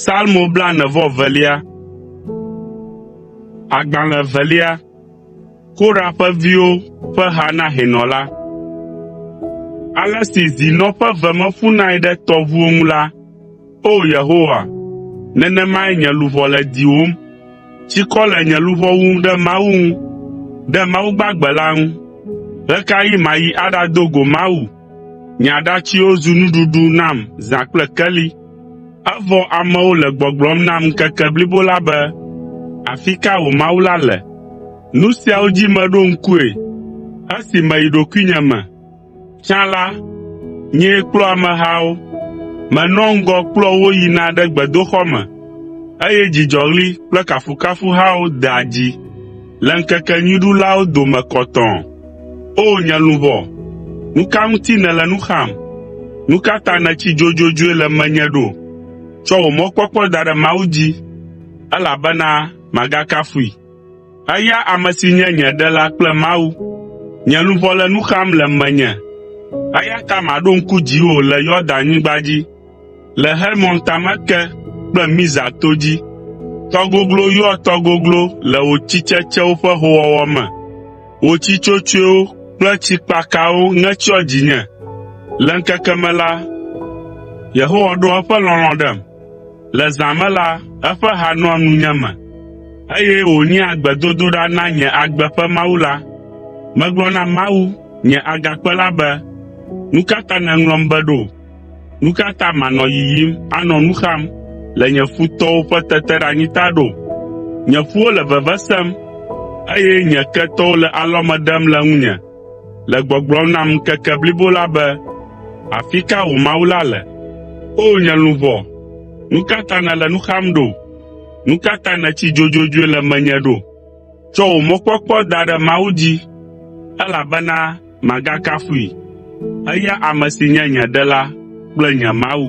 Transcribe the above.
Salmo blaene-vɔ-evelia. Agbalẽ evelia. Korah ƒe viwo ƒe ha na hɛnɔ la. Ale si zi nɔ ƒe ve me ƒunae ɖe tɔʋuwo ŋu la, O Yehowa, nenemae nye luʋɔ le diwòm. Tsikɔ le nye luʋɔ wum ɖe Mawu ŋu, ɖe Mawu gbagbe la ŋu. Ɣe ka ɣi mayi aɖado go Mawu? Nye aɖatsiwo zu nuɖuɖu nam zã kple keli. Evɔ amewo le gbɔgblɔm nam ŋkeke blibo la be, “Afi ka wò Mawu la le?” Nu siawo dzi meɖo ŋkue esi meyi ɖokuinye me. “Tsã la, nyee kplɔa amehawo. Menɔa ŋgɔ kplɔa wo yina ɖe gbedoxɔ me, eye dzidzɔɣli kple kafukafuhawo dea dzi le ŋkekenyuiɖulawo dome kɔtɔɔ. O nye luʋɔ, nu ka ŋuti nèle nu xam? Nu ka ta nètsi dzodzodzoe le menye ɖo? Tsɔ wò mɔkpɔkpɔ da ɖe Mawu dzi, elabena magakafui. Eya ame si nye nye Ɖela kple Mawu. Nye luʋɔ le nu xam le menye, eya ta maɖo ŋku dziwò le Yordan-nyigba dzi, le Hermon tame ke kple Mizar to dzi. Tɔ goglo yɔa tɔ goglo le wò tsitsetsewo ƒe hoowɔwɔ me. Wò tsi tsotsoewo kple tsikpakawo ŋe tsyɔ dzinye. Le ŋkeke me la, Yehowa ɖoa eƒe lɔlɔ̃ ɖem. Le zã me la, eƒe ha nɔa nunye me, eye wònyea gbedodoɖa na nye agbe ƒe Mawu la. Megblɔ na Mawu, nye Agakpe la be, “Nu ka ta nèŋlɔm be ɖo? Nu ka ta manɔ yiyim anɔ nu xam le nye futɔwo ƒe teteɖeanyi ta ɖo? Nye ƒuwo le veve sem, eye nye ketɔwo le alɔme ɖem le ŋunye. le gbɔgblɔm nam ŋkeke blibo la be, “Afi ka wò Mawu la le, O nye luʋɔ? Nu ka ta nèle nu xam ɖo? Nu ka ta nètsi dzodzodzoe le menye ɖo? Tsɔ wò mɔkpɔkpɔ da ɖe Mawu dzi, elabena màgakafui, eya ame si nye nye Ɖela kple nye Mawu.”